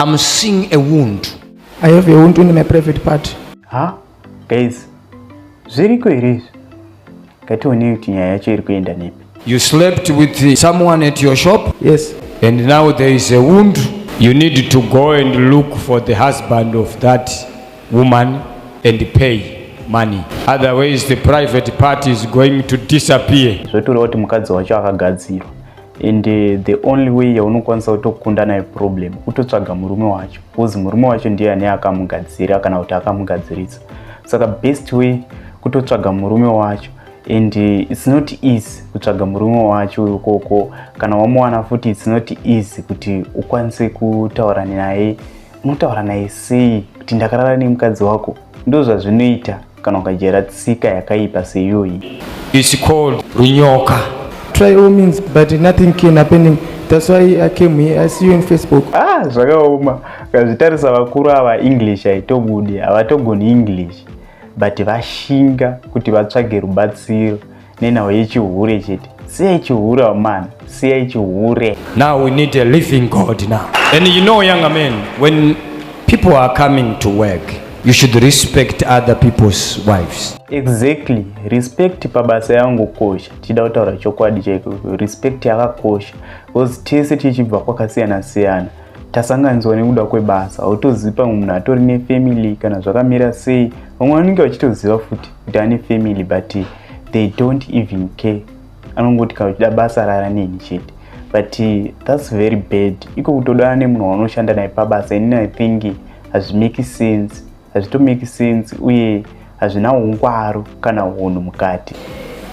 I'm seeing a wound. I have a wound in my private part. Ha? Guys, zviriko here izvi? Ngatione kuti nyaya yacho iri kuenda nepi. You slept with someone at your shop? Yes. And now there is a wound. You need to go and look for the husband of that woman and pay money. Otherwise the private part is going to disappear. Zvotorewa kuti mukadzi wacho akagadzirwa. and uh, the only way yaunokwanisa kutokunda nayo problem kutotsvaga murume wacho bcause murume wacho ndiye ane akamugadzira kana kuti akamugadzirisa saka best way kutotsvaga murume wacho and uh, its not easy kutsvaga murume wacho ukoko kana wamuwana futi its not easy kuti ukwanise kutaura naye unotaura naye sei kuti ndakarara nemukadzi wako Ndozvazvinoita kana ukajera tsika yakaipa seyoyi. It's called runyoka. Try all means but nothing can happening. That's why I came here. I see you in Facebook. Ah, zvakaoma. Kazvitarisa vakuru ava English haitobudi. Havatogoni English. But vashinga kuti vatsvage rubatsiro. nenhau yechihure chete siyai chihure amana siyai chihure now we need a living god now and you know younger men when people are coming to work you should respect other people's wives exactly respect pabasa yangu kosha tichida kutaura chokwadi chaiko respect yakakosha because tese tichibva kwakasiyana siyana tasanganidzwa nekuda kwebasa autozivi pamwe munhu atori nefamily kana zvakamira sei vamwe vanenge vachitoziva futi kuti ane family but they don't even care anongoti kana uchida basa rara neni chete but thats very bad iko kutodana nemunhu waunoshanda naye pabasa inini i think hazvimake sense hazvitomake sense uye hazvina ungwaro kana hunhu mukati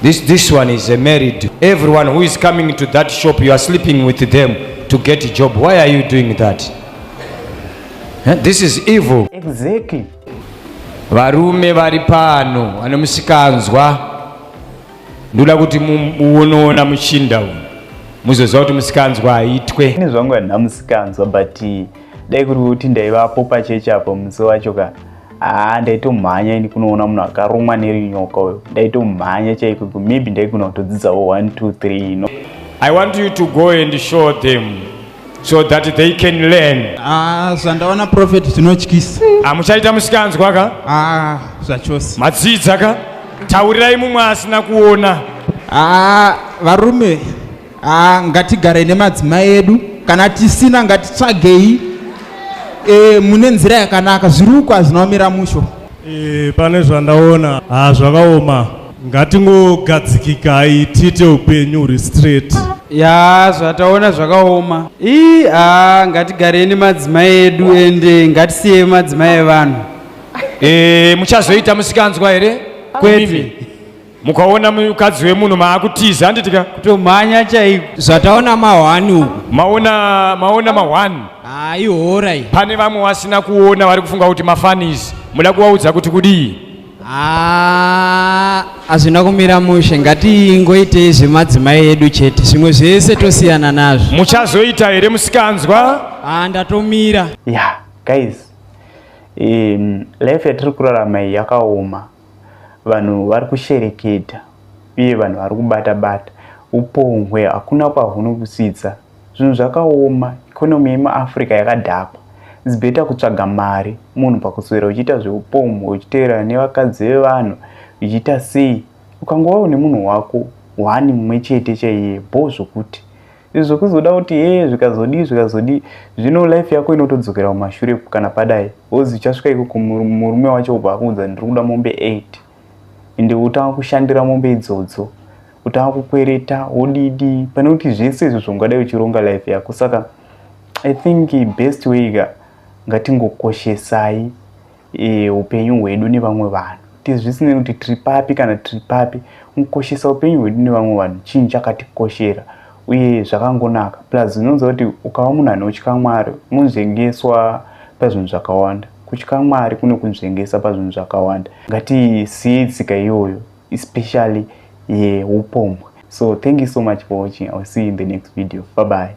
This, this one is a married. Everyone who is coming to that shop, you are sleeping with them to get a job. Why are you doing that? Huh? This is evil. Exactly. Varume vari pano vane musikanzwa ndoda kuti muonoona muchinda uyu muzoziva kuti musikanzwa haitwe ini zvangu handina musikanzwa but dai kuri kuti ndaivapo pachechi apo musi wacho ka haa ndaitomhanya ini kunoona munhu akarumwa nerinyoka uyo ndaitomhanya chaiko maybe ndaigona kutodzidzawo 1 2 3 ino i want you to go and show them so that they can learn ah zvandaona prophet zvinotyisa amuchaita ah, musikanzwa ka ah zvachose madzidza ka taurirai mumwe asina kuona ah varume ah ngatigare nemadzimai edu kana tisina ngatitsvagei e, mune nzira yakanaka zviruko hazvinaomira musho e, pane zvandaona hazvakaoma ah, ngatingogadzikikai tiite upenyu huri straight ya zvataona zvakaoma ii a ngatigareni madzimai edu ende ngatisiye madzimai evanhu e, muchazoita musikanzwa here kwete mukaona mukadzi wemunhu maakutiza handiti ka kutomhanya chaiko zvataona mahwani uku maona maona mahwani haihora pane vamwe vasina kuona vari kufunga kuti mafanizi muda kuvaudza kuti kudii Haa hazvina kumira mushe ngatingoitei zvemadzimai edu chete zvimwe zvese tosiyana nazvo. Muchazoita here musikanzwa? Haa ndatomira. Yeah guys um, life yatiri kurarama iyi yakaoma vanhu vari kushereketa uye vanhu vari kubata bata upohwe hakuna kwahunokusvitsa Zvinhu zvakaoma, economy yemuAfrica yakadhakwa. It's better kutsvaga mari munhu pakuswera uchiita zveupombwe uchiteerana nevakadzi vevanhu uchiita sei. Ukangova une munhu wako one mumwe chete chaiye bho zvokuti. Izvi zvekuzoda kuti hee zvikazodii zvikazodii zvino life yako inotodzokera kumashure kana padai wozi uchasvika ikoko murume wacho obva akuudza ndiri kuda mombe 8. ende wotanga kushandira mombe idzodzo kutanga kukwereta wodidi pane kuti zvese izvo zvaungadai uchironga life yako saka i think best way ka ngatingokoshesai e, upenyu hwedu nevamwe vanhu kuti zvisinei kuti tiri papi kana tiri papi kukoshesa upenyu hwedu nevamwe vanhu chinhu chakatikoshera uye zvakangonaka plus zvinonza kuti ukava munhu anotya mwari unozvengeswa pazvinhu zvakawanda Kutya Mwari kunokunzvengesa pazvinhu zvakawanda. Ngatisiyei tsika iyoyo especially yeupombwe. So thank you so much for watching. I will see you in the next video. Bye bye.